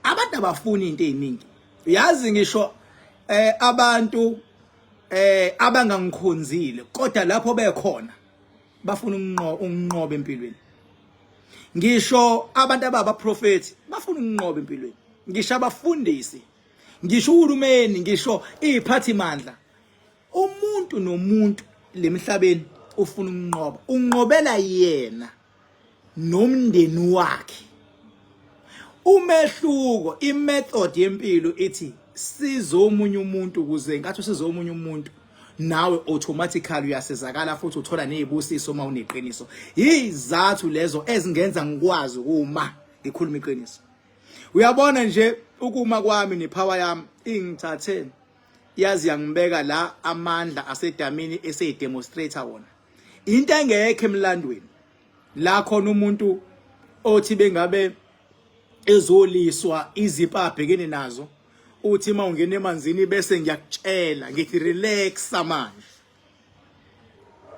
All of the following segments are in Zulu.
abantu abafuni into eziningi yazi ngisho eh abantu eh abangangikhonzile kodwa lapho bekhona bafuna ukunqoba empilweni ngisho abantu ababa prophet bafuna ukunqoba empilweni ngisho abafundisi ngisho uhulumeni ngisho iziphathi mandla umuntu nomuntu lemhlabeni ufuna ukunqoba unqobela yena nomndeni wakhe umehluko imethod yempilo ithi size omunye umuntu ukuze inkathi usize omunye umuntu nawe automatically uyasizakala futhi uthola nezibusiso uma uneqiniso izathu lezo ezingenza ngikwazi uma ngikhuluma iqiniso uyabona nje ukuma kwami nepower yami ingithathe yazi yangibeka la amandla asedamini eseyidemonstrator wona into engekho emlandweni la khona umuntu othi bengabe ezoliswa izipho abhekene nazo uthi uma ungena emanzini bese ngiyakutshela ngithi relaxa manje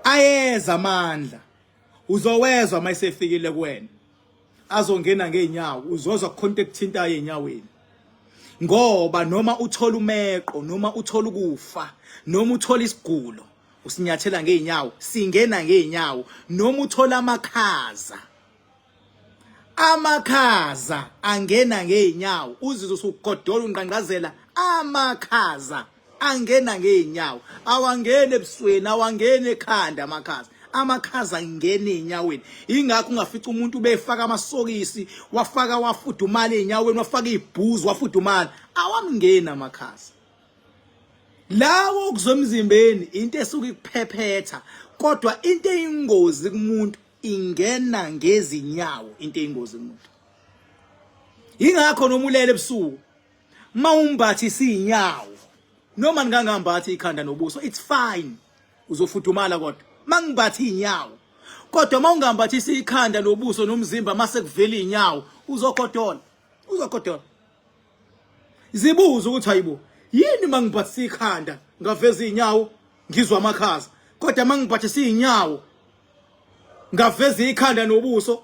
ayeza amandla uzowezwa uma esefikile kuwena azongena ngeenyawo uzozwa kukhonto ekuthintayo enyaweni ngoba noma uthola umeqo noma uthola ukufa noma uthola isigulo usinyathela ngeenyawo singena ngeenyawo noma uthola amakhaza amakhaza angena ngeenyawo uzizwe usugodola unqanqazela amakhaza angena ngeenyawo awangeni ebusweni awangeni ekhanda amakhaza amakhaza angena ezinyaweni ingakho ungafica umuntu ubefaka amasokisi wafaka wafudumala ezinyaweni wafaka izibhuzu wafudumala awamngena amakhaza lawo okuzomzimbeni into esuke ikuphephetha kodwa into eyingozi kumuntu ingena ngezinyawo into eyingozi kumuntu ingakho noma ulele ebusuku mawumbathi sinyawo noma ngangambathi ikhanda nobuso it's fine uzofudumala kodwa mangibathi inyawo kodwa mawungambathisi ikhanda nobuso nomzimba mase kuvela inyawo uzogodola uzogodola zibuza ukuthi hayibo yini mangibhathisa ikhanda ngaveza inyawo ngizwa amakhaza kodwa mangibhathisa inyawo ngaveza ikhanda nobuso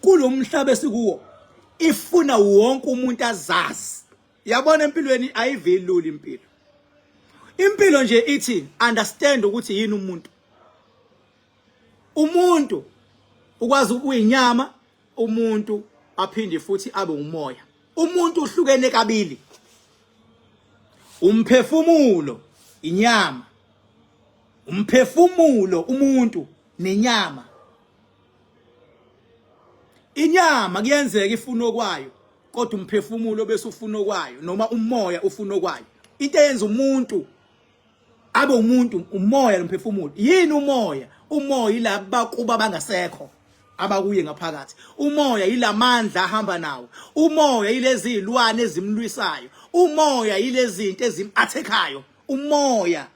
kulomhlaba esikuwo ifuna wonke umuntu azazi yabona empilweni ayiveluli impilo impilo nje ithi understand ukuthi yini umuntu umuntu ukwazi ukuyinyama umuntu aphinde futhi abe umoya umuntu uhlukene kabili umphefumulo inyama umphefumulo umuntu nenyama inyama kuyenzeka ifuna okwayo kodwa umphefumulo bese ufuna okwayo noma umoya ufuna okwayo into eyenza umuntu abe umuntu umoya nomphefumulo yini umoya umoya ilaba kuba bangasekho abakuye ngaphakathi umoya yilamandla ahamba nawo umoya yilezi zilwane ezimlwisayo umoya yilezinto ezimathekayo umoya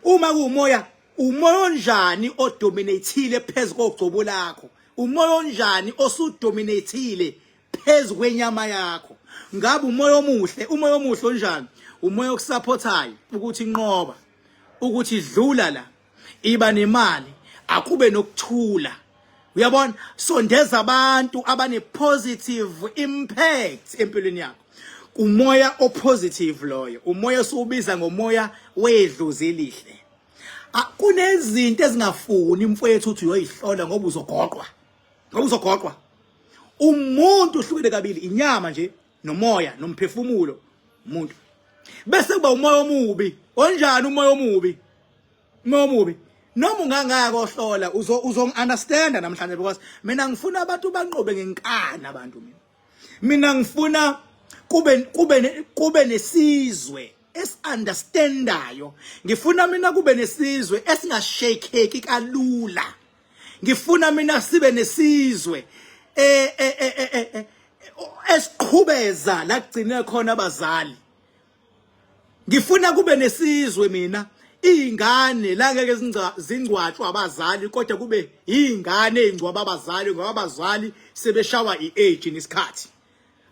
uma kuumoya umoya onjani odominathile phezu kogcobo lakho umoya onjani osudominathile phezu kwenyama yakho ngabe umoya omuhle umoya omuhle onjani umoya okusapothayo ukuthi inqoba ukuthi dlula la iba nemali akube nokuthula uyabona sondeza abantu abane positive impact empilweni yakho umoya opositive loyo umoya siwubiza ngomoya wedlozi elihle kunezinto ezingafuni mfowethu uthi uyoyihlola ngoba uzogoqwa ngoba uzogoqwa umuntu uhlukile kabili inyama nje nomoya nomphefumulo umuntu bese kuba umoya omubi onjani umoya omubi umoya omubi noma ungangaka ohlola uzo uzo understand namhlanje because mina ngifuna abantu banqobe ngenkani abantu mina mina ngifuna kube kube kube nesizwe esiunderstandayo ngifuna mina kube nesizwe esingashakeki kalula ngifuna mina sibe nesizwe eh eh eh, eh, eh, eh esiqhubeza la kugcine khona abazali ngifuna kube nesizwe mina iy'ngane la ngeke zingcwatshwa abazali kodwa kube iy'ngane ey'ngcwaba abazali ngoba abazali sebeshawa i-age nesikhathi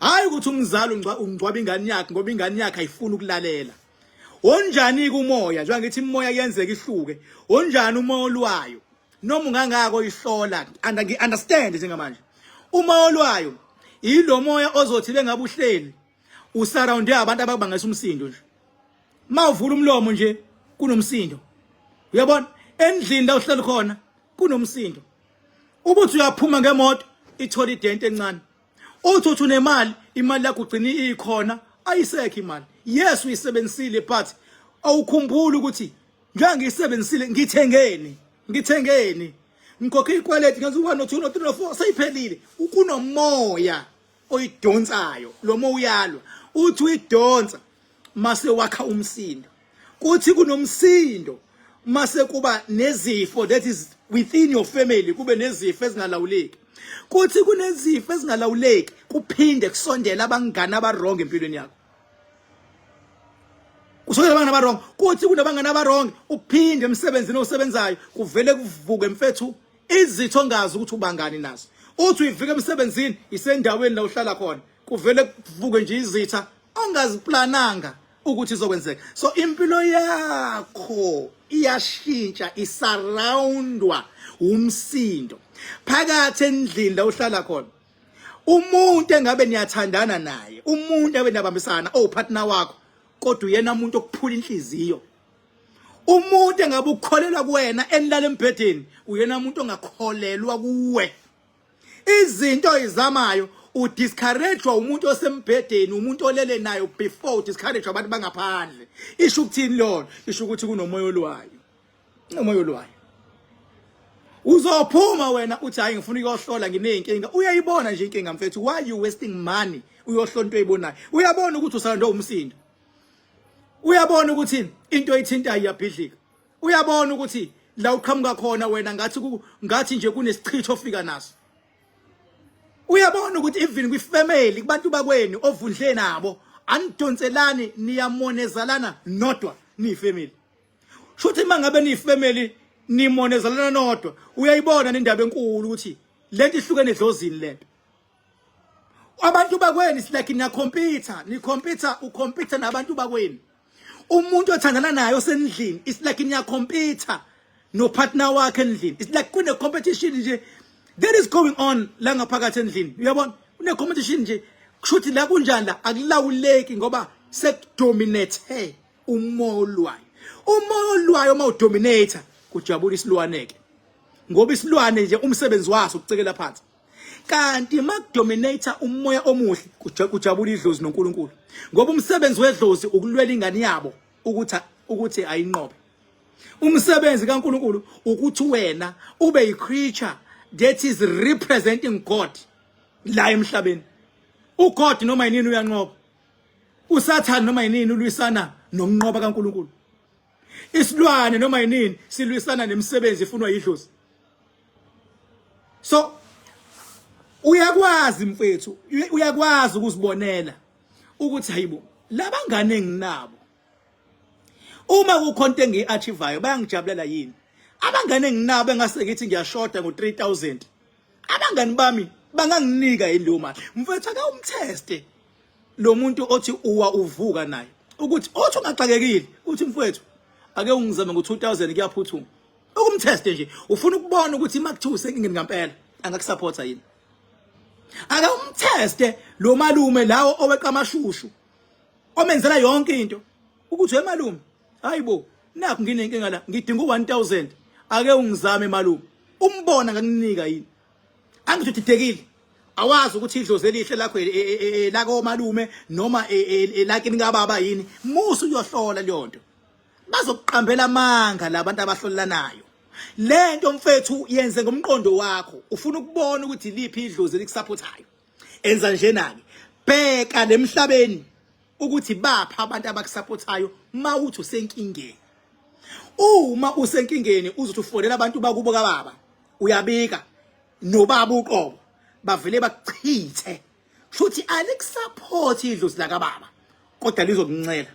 hhayi ukuthi umzali ungcwaba ingane yakhe ngoba ingane yakhe ayifuni ukulalela onjani-ke umoya njengoba ngithi imoya kuyenzeka ihluke onjani umoya olwayo noma ungangako ihlola and ngi-understand njengamanje umoya olwayo yilo moya ozothi bengabe uhleli usurrounde abantu ababangisa umsindo nje mawuvula umlomo nje kunomsindo uyabona endlini la uhleli khona kunomsindo ubuthi uyaphuma ngemoto ithola idente encane uthi uthi unemali imali yakho ugcina ikhona ayisekho imali yes uyisebenzisile but awukhumbuli ukuthi njengoba ngiyisebenzisile ngithengeni ngithengeni ngikhokhe ikwaleti ngenza u-one no-two no-three no-four seyiphelile kunomoya oyidonsayo loma uyalwa uthi uyidonsa mase wakha umsindo kuthi kunomsindo mase kuba nezifo that is within your family kube nezifo ezingalawuleki kuthi kunezifo ezingalawuleki kuphinde kusondela abangani abarong empilweni yakho kusondela abangani abarong kuthi kunabangani abarong uphinde emsebenzini osebenzayo kuvele kuvuke mfethu izitho ngazi ukuthi ubangani nazo uthi uyivika emsebenzini isendaweni la uhlala khona kuvele kuvuke nje izitha ongaziplananga ukuthi izokwenzeka so impilo yakho iyashintsha isaroundwa umsindo phakathi endlini la uhlala khona umuntu engabe niyathandana naye umuntu engabe niyabambisana owupartner wakho kodwa uyena umuntu okuphula inhliziyo umuntu engabe ukholelwa kuwena enilala embhedeni uyena umuntu ongakholelwa kuwe izinto izamayo udiscouragwa umuntu osembhedeni umuntu olele nayo before udiscouragwa abantu bangaphandle isho ukuthini lona isho ukuthi kunomoya olwayo unomoya olwayo uzophuma wena uthi hayi ngifuna ukuyohlola ngineyinkinga uyayibona nje inkinga mfethu why you wasting money uyohlola into oyibonayo uyabona ukuthi usalandwe umsindo uyabona ukuthi into ithintayo iyabhidlika uyabona ukuthi la uqhamuka khona wena ngathi ngathi nje kunesichitho ofika naso uyabona ukuthi even kwi family kubantu bakweni ovundle nabo anidonselani niyamonezalana nodwa ni family shuthi mangabe ni family nimonezalana nodwa uyayibona nendaba enkulu ukuthi lento ihlukene edlozini lento abantu bakweni silike niyakhompyutha nikhompyutha ukhompyutha nabantu bakweni umuntu othandana naye osendlini it's like niyakhompyutha nopartner wakhe endlini it's like kune-competition nje that is going on la ngaphakathi endlini uyabona kune-competition nje kushuthi la kunjani la akulawuleki ngoba sekudominate umoya olwayo umoya olwayo uma udominator kujabula isilwane-ke ngoba isilwane nje umsebenzi waso ukucekela phansi kanti makudominate umoya omuhle kujabula idlozi noNkulunkulu ngoba umsebenzi wedlozi ukulwela ingane yabo ukuthi ukuthi ayinqobe umsebenzi kaNkulunkulu ukuthi wena ube yi creature that is representing God la emhlabeni uGod noma yinini uyanqoba uSathane noma yinini ulwisana nomnqoba kaNkulunkulu isilwane noma yinini silwisana nemisebenzi ifunwa yidlozi so uyakwazi mfethu uyakwazi ukuzibonela ukuthi hayibo labangane enginabo uma kukhonto engiyi-achivayo bayangijabulela yini abangane enginabo engase ngithi ngiyashoda ngo-3000 abangani bami banganginika yini leyo mali mfethu akawumtheste lo muntu othi uwa uvuka naye ukuthi othi ungaxakekile uthi mfethu ake ungizame ngo-2000 kuyaphuthuma ukumteste nje ufuna ukubona ukuthi uma kuthiwa usenkingeni ngampela angakusupporta yini ake umteste lo malume lawo oweqa amashushu omenzela yonke into ukuthi we malume hayibo nakho nginenkinga la ngidinga u1000 ake ungizame malume umbona ngakunika yini angithi udidekile awazi ukuthi idlozi elihle lakho e, e, e, lako malume noma elakini kababa yini musu uyohlola leyonto bazokuqambela amanga labantu abahlolelanayo lento mfethu yenze ngomqondo wakho ufuna ukubona ukuthi liphi idlozi elikusapothayo enza njena ke bheka lemhlabeni ukuthi bapha abantu abakusapothayo mawuthi usenkingeni uma usenkingeni uzothi ufonela abantu bakubo kababa uyabika nobaba uqobo bavele bakuchithe shuthi alikusupport idlozi lakababa kodwa lizokuncela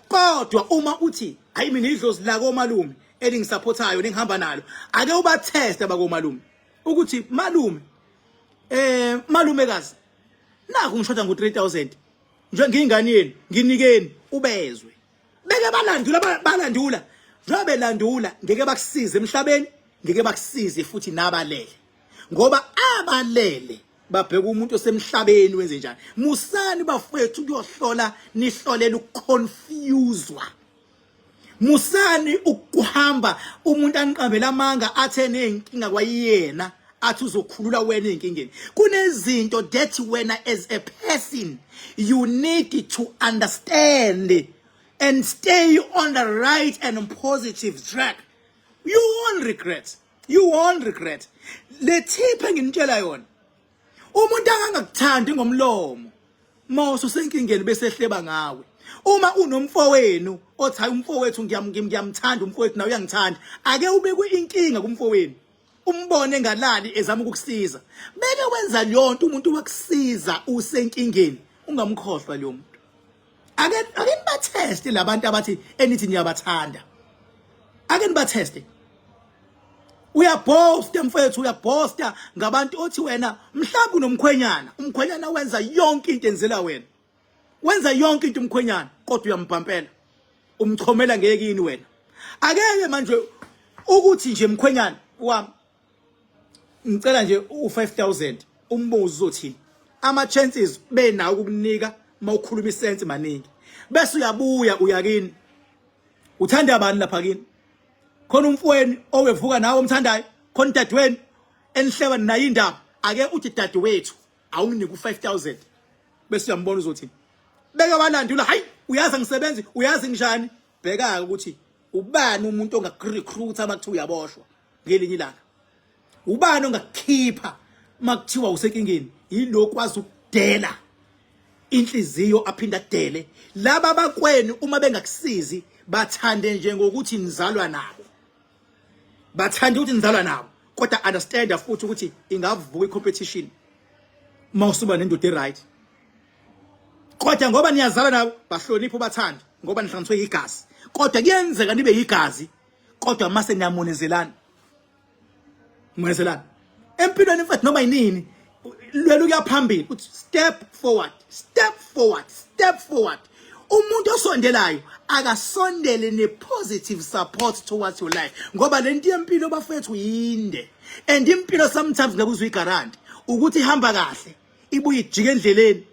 kodwa uma uthi hayi mina idlozi lakomalume elingisupportayo ningihamba nalo ake ubatheste bakomalume ukuthi malume eh malumekazi naku ngishoda ngo 3000 nje ngiyingane yenu nginikeni ubezwe beke balandula balandula njengoba belandula ngeke bakusize emhlabeni ngeke bakusize futhi nabalele ngoba abalele babheka umuntu osemhlabeni wenze njani musani bafethu ukuyohlola nihlolela ukuconfuswa musani ukuhamba umuntu aniqambela amanga athe nenkinga kwayena athi uzokhulula wena enkingeni kunezinto that wena as a person you need to understand and stay on the right and positive track you won't regret you won't regret le tip enginitshela yona umuntu akangakuthandi ngomlomo moso senkingeni bese ehleba ngawe uma unomfowenu othi hayi umfowethu ngiyamthanda umfowethu nawe uyangithanda ake ubekwe inkinga kumfowenu umbone ngalali ezama ukukusiza beke wenza leyo nto umuntu wakusiza usenkingeni ungamkhohlwa leyo muntu ake ake nibatheste labantu abathi enithi niyabathanda ake nibatheste uyabhosta mfethu uyabhosta ngabantu othi wena mhlawumbe unomkhwenyana umkhwenyana wenza yonke into enzela wena wenza yonke into umkhwenyana kodwa uyambhampela umchomela ngeke yini wena akeke manje ukuthi nje mkhwenyana wami ngicela nje u5000 umbuzo uzothini ama chances benawo ukukunika mawukhuluma isense maningi bese uyabuya uyakini uthanda bani lapha kini khona umfweni owevuka nawe omthandayo khona dadweni enihleba nayo indaba ake uthi dadewethu awunginike u5000 bese uyambona uzothini beke walandula hayi uyazi ngisebenzi uyazi njani bheka ukuthi ubani umuntu ongakurecruiter uma kuthiwa uyaboshwa ngelinye ilanga ubani ongakukhipha makuthiwa usenkingeni yilo kwazi ukudela inhliziyo aphinda adele laba bakweni uma bengakusizi bathande nje ngokuthi nizalwa nabo bathande ukuthi nizalwa nabo kodwa understand futhi ukuthi ingavuka icompetition mawusuba nendoda right kodwa ngoba niyazalwa nabo bahlonipha ubathande ngoba nihlanganiswe yigazi kodwa kuyenzeka nibe yigazi kodwa mase niyamonezelana monezelana empilweni mfethu noma yinini lwela ukuya phambili uthi step forward step forward step forward umuntu osondelayo akasondele ne-positive support towards your life ngoba le nto yempilo bafethu yinde and impilo sometimes ngeke uzuyigaranti ukuthi ihamba kahle ibuye ijike endleleni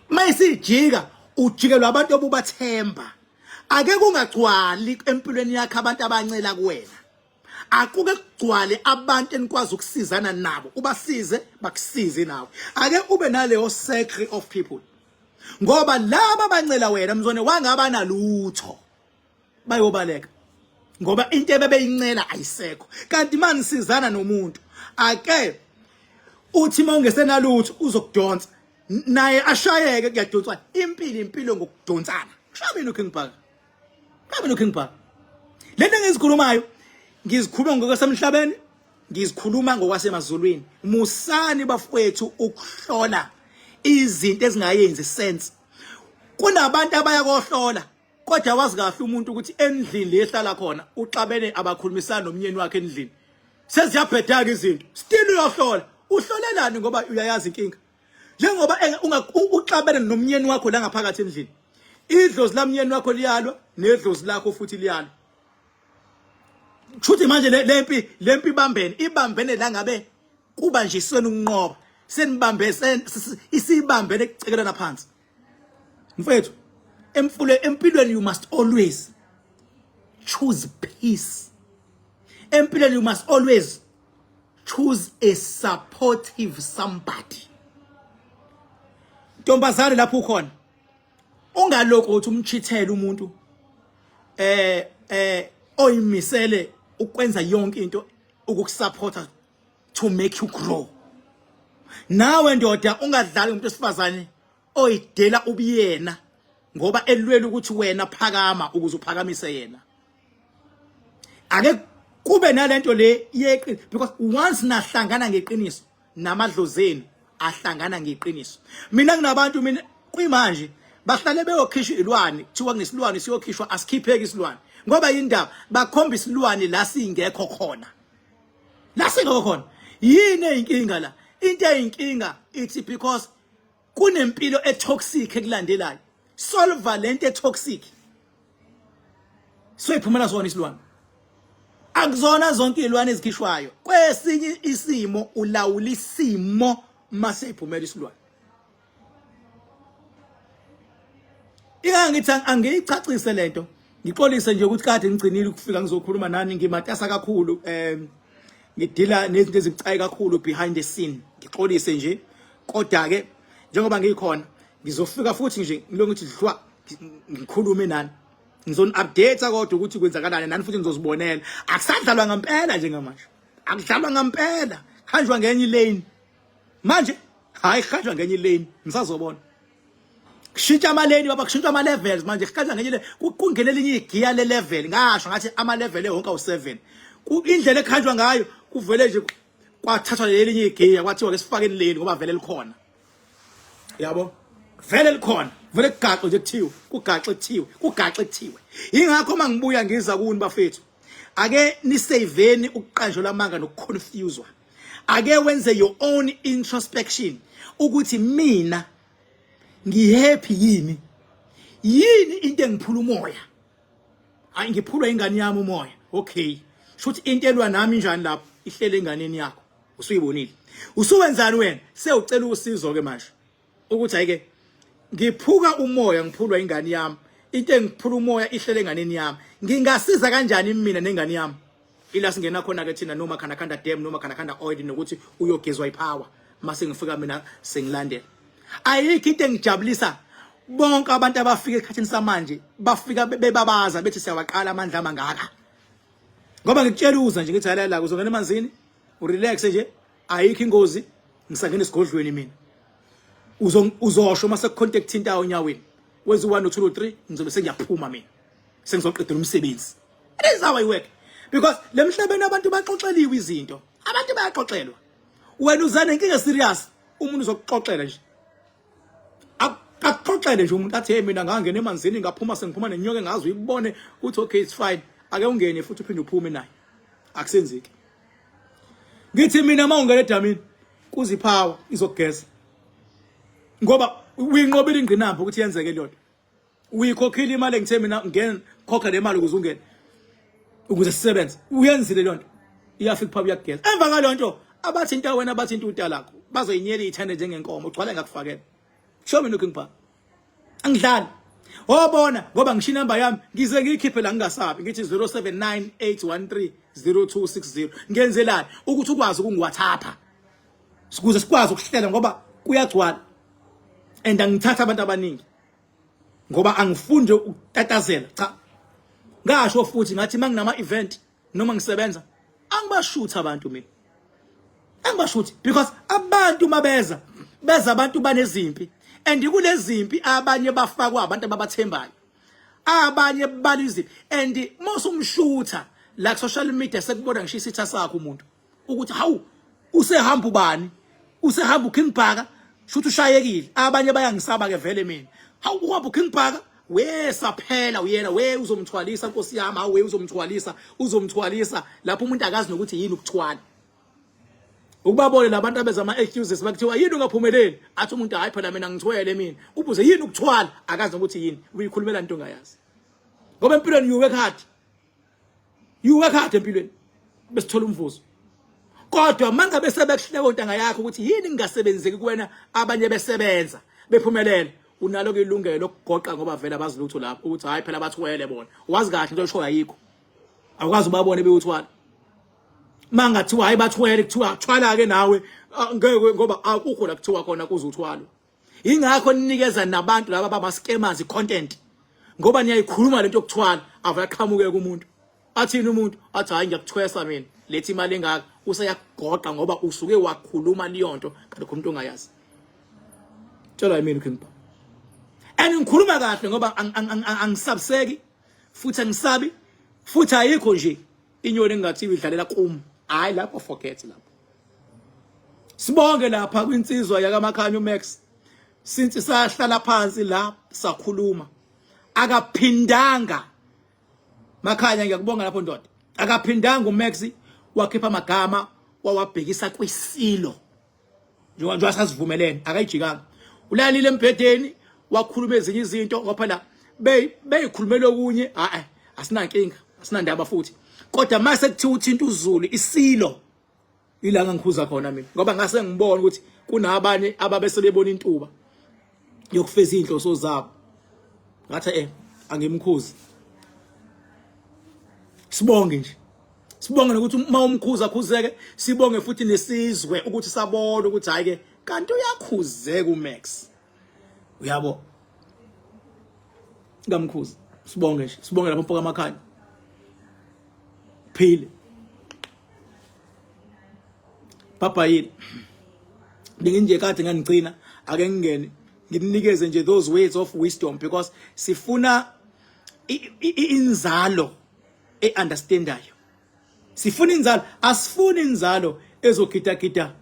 mayisijika ujikelwa abantu obubathemba ake kungagcwali empilweni yakhe abantu abancela kuwena akuke kugcwale abantu enikwazi ukusizana nabo ubasize bakusize nawe ake ube naleyo circle of people ngoba laba bancela wena mzone wangaba nalutho bayobaleka ngoba into ebebeyincela ayisekho kanti manje sizana nomuntu ake uthi uma ungesenalutho uzokudonsa naye ashayeke kuyadonswa impilo impilo ngokudonsana kushaye mina uking park kushaye mina uking park lento engizikhulumayo ngizikhuluma ngokwasemhlabeni ngizikhuluma ngokwasemazulwini musani bafowethu ukuhlola izinto ezingayenzi sense kunabantu abayakohlola kodwa wazi kahle umuntu ukuthi endlini le ehlala khona uxabene abakhulumisana nomnyeni wakhe endlini seziyabhedaka izinto still uyohlola uhlolelani ngoba uyayazi inkinga njengoba uxabene nomnyeni wakho la ngaphakathi endlini idlozi lamnyeni wakho liyalwa nedlozi lakho futhi liyalwa Chuthi manje lempi lempi ibambene ibambene la ngabe kuba nje isona ukunqoba senibambe isibambene ecekelana phansi mfethu emfule empilweni you must always choose peace empilweni you must always choose a supportive somebody ntombazane lapho ukhona ungalokho uthi umchithele umuntu eh eh oyimisele ukwenza yonke into ukukusupporta to make you grow nawe ndoda ungadlali umuntu wesifazane oyidela ubuyena ngoba elwela ukuthi wena phakama ukuze uphakamise yena ake kube nalento le yeqiniso because once nahlangana ngeqiniso namadlozeni ahlangana ngeqiniso mina nginabantu mina kuyimanje bahlale beyokhishwa ilwane kuthiwa ngesilwane siyokhishwa asikhipheki isilwane ngoba yindaba bakhomba isilwane la singekho khona la singekho khona yini eyinkinga la into eyinkinga ithi because kunempilo etoxic ekulandelayo solve lento etoxic soyiphumela zona isilwane akuzona zonke izilwane ezikhishwayo kwesinye isimo ulawula isimo mase iphumela isilwane Ingangithi angiyicacise lento. Ngixolise nje ukuthi kade ngigcinile ukufika ngizokhuluma nani ngimatasa kakhulu um ngidila nezinto ezibucayi kakhulu behind the scene. Ngixolise nje kodwa ke njengoba ngikhona ngizofika futhi nje ngilo ngithi dlwa ngikhulume nani. Ngizon update kodwa ukuthi kwenzakalani nani futhi ngizozibonela. Akusadlalwa ngempela njengamanje. Akudlalwa ngempela. Hanjwa ngenye lane. manje hayi kuhanjwa ngenye ilane nisazobona kushintsha amaleni baba kushintshwa ama-levels manje kuhanjwa ngenye le kungena elinye igiya le-level ngasho ngathi ama-level ewonke awu-seven indlela ekuhanjwa ngayo kuvele nje kwathathwa lelinye igiya kwathiwa ke sifake leni ngoba vele likhona yabo vele likhona vele kugaxo nje kuthiwe kugaxo kuthiwe kugaxo kuthiwe ingakho uma ngibuya ngiza kuni bafethu ake niseyiveni ukuqanjelwa amanga nokuconfuswa ake wenze your own introspection ukuthi mina ngihappy yini yini into engiphula umoya hayi ngiphulwa ingane yami umoya okay shuthi into elwa nami njani lapho ihlele enganeni yakho usuyibonile usuwenzani wena sewucela usizo ke manje ukuthi ayike ngiphuka umoya ngiphulwa ingane yami into engiphula umoya ihlele enganeni yami ngingasiza kanjani mina nengane yami ila singena khona ke thina noma khana khanda dam noma khana khanda oil nokuthi uyogezwa ipower mase ngifika mina sengilandela ayikho into engijabulisa bonke abantu abafika esikhathini samanje bafika bebabaza bethi siyawaqala amandla amangaka ngoba ngikutshela uza nje ngithi halala uzongena emanzini urelax nje ayikho ingozi ngisangena esigodlweni mina uzosho uma sekucontacthinta onyaweni wenza u-one no-two no-three ngizobe sengiyaphuma mina sengizoqedela umsebenzi that is how i work because le mhlabeni abantu baxoxeliwe izinto abantu bayaxoxelwa wena uzane inkinga serious umuntu uzokuxoxela nje akuxoxele nje umuntu athi hey mina ngangena emanzini ngaphuma sengiphuma nenyoka engazi uyibone ukuthi okay it's fine ake ungene futhi uphinde uphume naye akusenzeki ngithi mina uma ungena edamini kuziphawa izogeza ngoba uyinqobile ingqinamba ukuthi yenzeke leyo nto uyikhokhile imali engithe mina ngena khokha le mali ukuze ungene ukuze sisebenze uyenzile leyo nto iyafika phaba uyageza emva kwaleyo nto abathinta wena abathinta utalakho bazoyinyela ithande njengenkomo ugcwale ngakufakela show me looking back angidlali wabona ngoba ngisho inamba yami ngize ngiyikhiphe la ngingasabi ngithi 0798130260 ngenzelani ukuthi ukwazi ukungiwathapha sikuze sikwazi ukuhlela ngoba kuyagcwala and angithatha abantu abaningi ngoba angifunde ukutatazela cha ngasho futhi ngathi manginama event noma ngisebenza angibashuthi abantu mina angibashuthi because abantu mabeza beza abantu banezimpi and kulezimpi abanye bafakwa abantu ababathembayo abanye baliziphi and mose umshutha la social media sekubona ngisho isitha sakho umuntu ukuthi hawu usehamba ubani usehamba uKing Bhaka shuthi ushayekile abanye bayangisaba ke vele mina hawu uhamba uKing Bhaka we saphela uyena we uzomthwalisa nkosi yami hawu we uzomthwalisa uzomthwalisa lapho umuntu akazi nokuthi yini ukuthwala ukubabone labantu abeza ama excuses bakuthiwa yini ungaphumeleli athi umuntu hayi phela mina ngithwele mina ubuze yini ukuthwala akazi nokuthi yini uyikhulumela into ongayazi ngoba empilweni you work hard you work hard empilweni besithola umvuzo kodwa mangabe sebekuhleka ontanga yakho ukuthi yini ngingasebenzeki kuwena abanye besebenza bephumelela unalo ilungelo lokugoqa ngoba vele abazi lutho lapho ukuthi hayi phela bathwele bona wazi kahle into eshoyo ayikho awukazi ubabone bewuthwala mangathiwa hayi bathwele kuthiwa thwala ke nawe ngeke ngoba akukho la kuthiwa khona kuze uthwalwe ingakho ninikeza nabantu laba bama scammers icontent ngoba niyayikhuluma lento yokuthwala avaqhamuke kumuntu athini umuntu athi hayi ngiyakuthwesa mina lethi imali engaka useyakugoqa ngoba usuke wakhuluma liyonto kanti umuntu ongayazi tshela yimini king baba and ngikhuluma kahle ngoba angisabseki futhi angisabi futhi ayikho nje inyoni engingathiwa idlalela kum hayi lapho forget lapho sibonge lapha kwinsizwa yakamakhanyo max since sahlala phansi la sakhuluma akaphindanga makhanya ngiyakubonga lapho ndoda akaphindanga umax wakhipha amagama wawabhekisa kwisilo njengoba njengoba sasivumelene akayijikanga ulalile embhedeni wakhuluma ezinye izinto ngoba phela beyikhulumela okunye hayi asinankinga asinandaba futhi kodwa mase kuthiwa uthinta uzulu isilo ilanga ngikhuza khona mina ngoba ngase ngibona ukuthi kunabanye ababesebebona intuba yokufeza izinhloso zabo ngathi eh angimkhuzi sibonge nje sibonge nokuthi uma umkhuza akhuzeke sibonge futhi nesizwe ukuthi sabona ukuthi hayi ke kanti uyakhuzeka uMax uyabo ngamkhuza sibonge nje sibonge lapho mpoka amakhaya Phile. Papa yini? Benginje kade nganigcina ake ngingene ngimnikeze nje those words of wisdom because sifuna inzalo eunderstandayo sifuna inzalo asifuni inzalo ezogidagida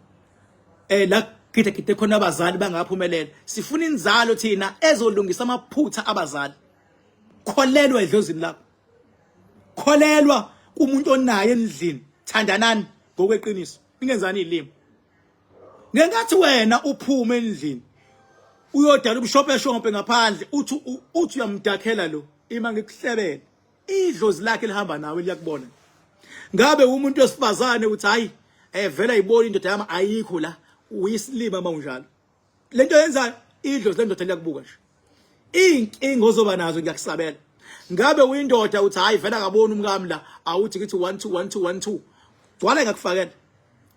eh la gidagide khona abazali bangaphumelela sifuna inzalo thina ezolungisa amaphutha abazali kholelwa edlozini lakho kholelwa kumuntu onaye endlini thandanani ngokweqiniso ningenzani ilimi ngenkathi wena uphume endlini uyodala ubushopeshompe ngaphandle uthi uthi uyamdakhela lo ima ngikuhlebele idlozi lakhe lihamba nawe liyakubona ngabe umuntu wesifazane uthi hayi evela eh, ibona indoda yami ayikho la uyisilima mawunjalo lento yenzayo idlozi lendoda liyakubuka nje iy'nkinga ozoba nazo ngiyakusabela ngabe uyindoda uthi hhayi vele akaboni umkami la awuthi kithi one two one two one two gcwala ngakufakela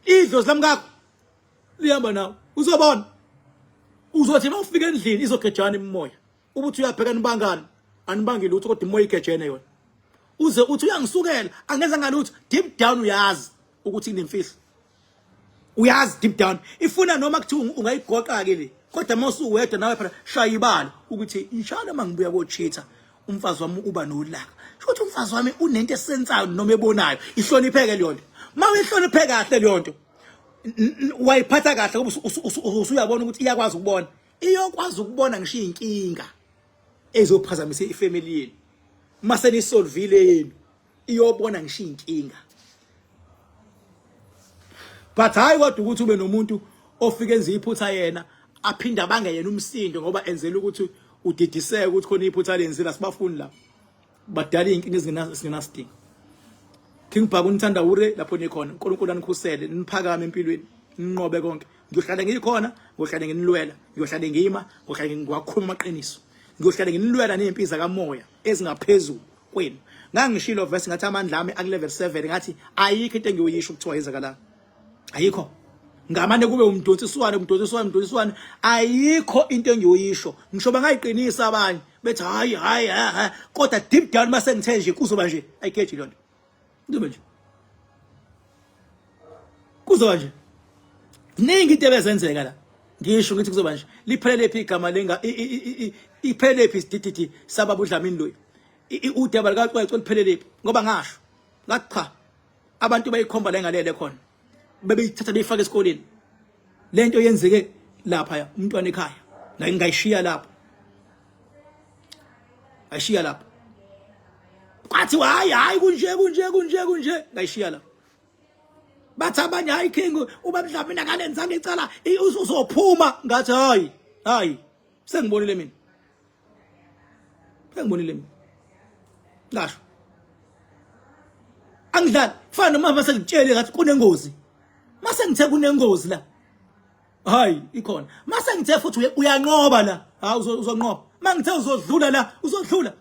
idlozi lamkakho lihamba nawe uzobona uzothi uma ufika endlini izogejana imimoya ubuthi uyabheka nibangani anibangile ukuthi kodwa imoya igejene yona uze uthi uyangisukela angenza ngalutho deep down uyazi ukuthi inemfihlo uyazi deep down ifuna noma kuthiwa ungayigoqa ke le kodwa uma usuwedwa nawe phela shaya ibala ukuthi inshallah uma ngibuya kochitha umfazi wami uba nolaka shothi umfazi wami unento esensayo noma ebonayo ihlonipheke leyo nto uma uyihloniphe kahle leyo nto wayiphatha kahle ngoba usuyabona ukuthi iyakwazi ukubona iyokwazi ukubona ngisho inkinga ezophazamisa ifamily yenu uma senisolvile yenu iyobona ngisho inkinga but hayi kodwa ukuthi ube nomuntu ofike enze iphutha yena aphinde abange yena umsindo ngoba enzela ukuthi udidiseke ukuthi khona iphutha lenzile asibafuni la badala inkinga ezingenasidingo King Bhaku nithanda ure lapho nikhona uNkulunkulu anikhusele niphakame empilweni ninqobe konke ngiyohlale ngikhona ngiyohlale nginilwela ngiyohlale ngima ngiyohlale ngiwakhuluma amaqiniso ngiyohlale nginilwela nezimpi zakamoya ezingaphezulu kwenu ngangishilo verse ngathi amandla ami aku level 7 ngathi ayikho into engiyoyisho ukuthiwa yenzakala ayikho ngamane kube umdonsiswane umdonsiswane umdonsiswane ayikho into engiyoyisho ngisho bangayiqinisa abanye bethi hayi hayi kodwa deep down mase ngithe nje kuzoba nje ayikeji lonto Kuzoba nje. Kuzoba nje. Ningi into ebezenzeka la. Ngisho ukuthi kuzoba nje. Liphelele phi igama lenga iphelele phi sidididi sababa uDlamini loyi. Udaba lika Cwecwe liphelele phi ngoba ngasho. Ngathi cha. Abantu bayikhomba la engalele khona. Bebeyithatha beyifaka esikoleni. lento yenzeke lapha umntwana ekhaya la ngingayishiya lapho ayishiya lapho kwathi hayi hayi kunje kunje kunje kunje ngayishiya lapho bathi abanye hayi king uba mhlawumbe mina ngalenzanga icala uzophuma ngathi hayi hayi sengibonile mina engibonile mina ngasho angidlali kufana noma mase ngitshele ngathi kunengozi mase ngithe kunengozi la hayi ikhona mase ngithe futhi uyanqoba la ha uzonqoba mangithe uzodlula la uzodlula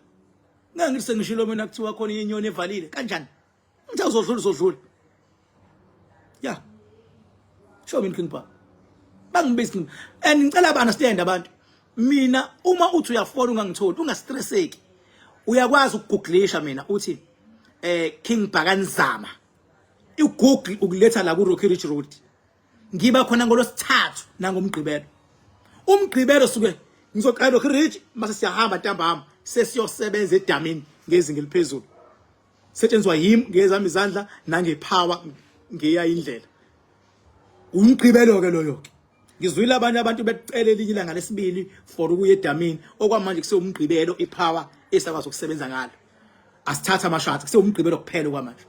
ngangise ngishilo mina kuthiwa khona inyoni evalile kanjani Mthe uzodlula uzodlula. Yeah. Show me King Power. Bangibizi mina. And ngicela ba understand abantu. Mina uma uthi uyafona ungangitholi ungastresseki. Uyakwazi ukugooglisha mina uthi eh King Bhakanizama. IGoogle ukuletha la ku Rocky Ridge Road. Ngiba khona ngolosithathu nangomgqibelo. Umgqibelo suke ngizoqala Rocky Ridge mase siyahamba ntambama sesiyosebenza edamini ngezinga eliphezulu. setshenziswa yim ngezami izandla nangephawa ngeya indlela umgqibelo ke loyo ke ngizwile abanye abantu becela elinye ilanga lesibili for ukuya edamini okwamanje kusewumgqibelo iphawa esakwazi ukusebenza ngalo asithatha amashadi kusewumgqibelo kuphela okwamanje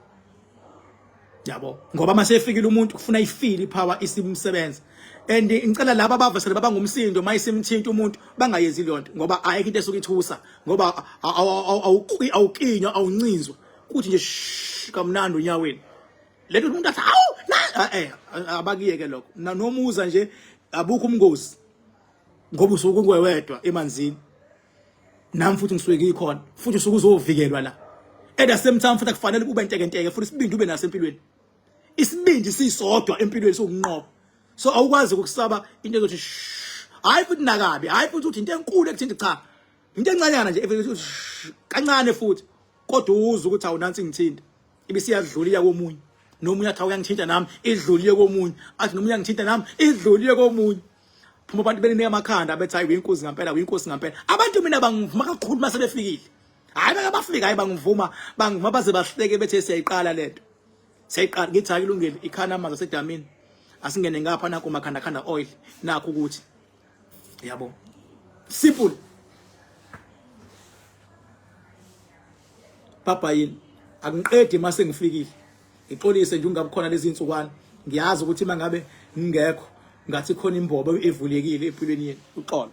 yabo ngoba uma sefikile umuntu kufuna ifile ipower isimsebenza and ngicela laba abavesele baba ngumsindo uma isimthinta umuntu bangayenzi leyo nto ngoba ayikho into esuke ithusa ngoba awukinywa awuncinzwa kuthi nje kamnandi onyaweni lento umuntu athi awu ah, eh abakiyeke lokho nomuza nje abukho umngozi ngoba usuke ungwewedwa emanzini nami futhi ngisuke ngikhona futhi usuke uzovikelwa la at the same time futhi akufanele ube ntekenteke futhi isibindi ube naso empilweni isibindi sisodwa empilweni sokunqoba so awukwazi ukusaba into ezothi hayi futhi nakabi hayi futhi uthi into enkulu ekuthinta cha into encanyana nje kancane futhi kodwa uwuza ukuthi awunansi ngithinta ibisiyadlula iya komunye nomunye athi awuyangithinta nami idluliye komunye athi nomunye angithinta nami idluliye komunye phuma abantu belinika amakhanda bethi hayi uyinkosi ngempela uyinkosi ngempela abantu mina bangivuma kakhulu mase befikile hayi bake bafika hayi bangivuma bangivuma baze bahleke bethe siyayiqala lento siyayiqala ngithi hayi kulungile ikhana amanzi asedamini asingene ngapha nakho makhanda khanda oil nakho ukuthi yabo simple baba yini akungiqedi mase ngifikile ngixolise nje ungabukhona lezi insukwana ngiyazi ukuthi mangabe ngingekho ngathi khona imbobo evulekile empilweni yenu uxolo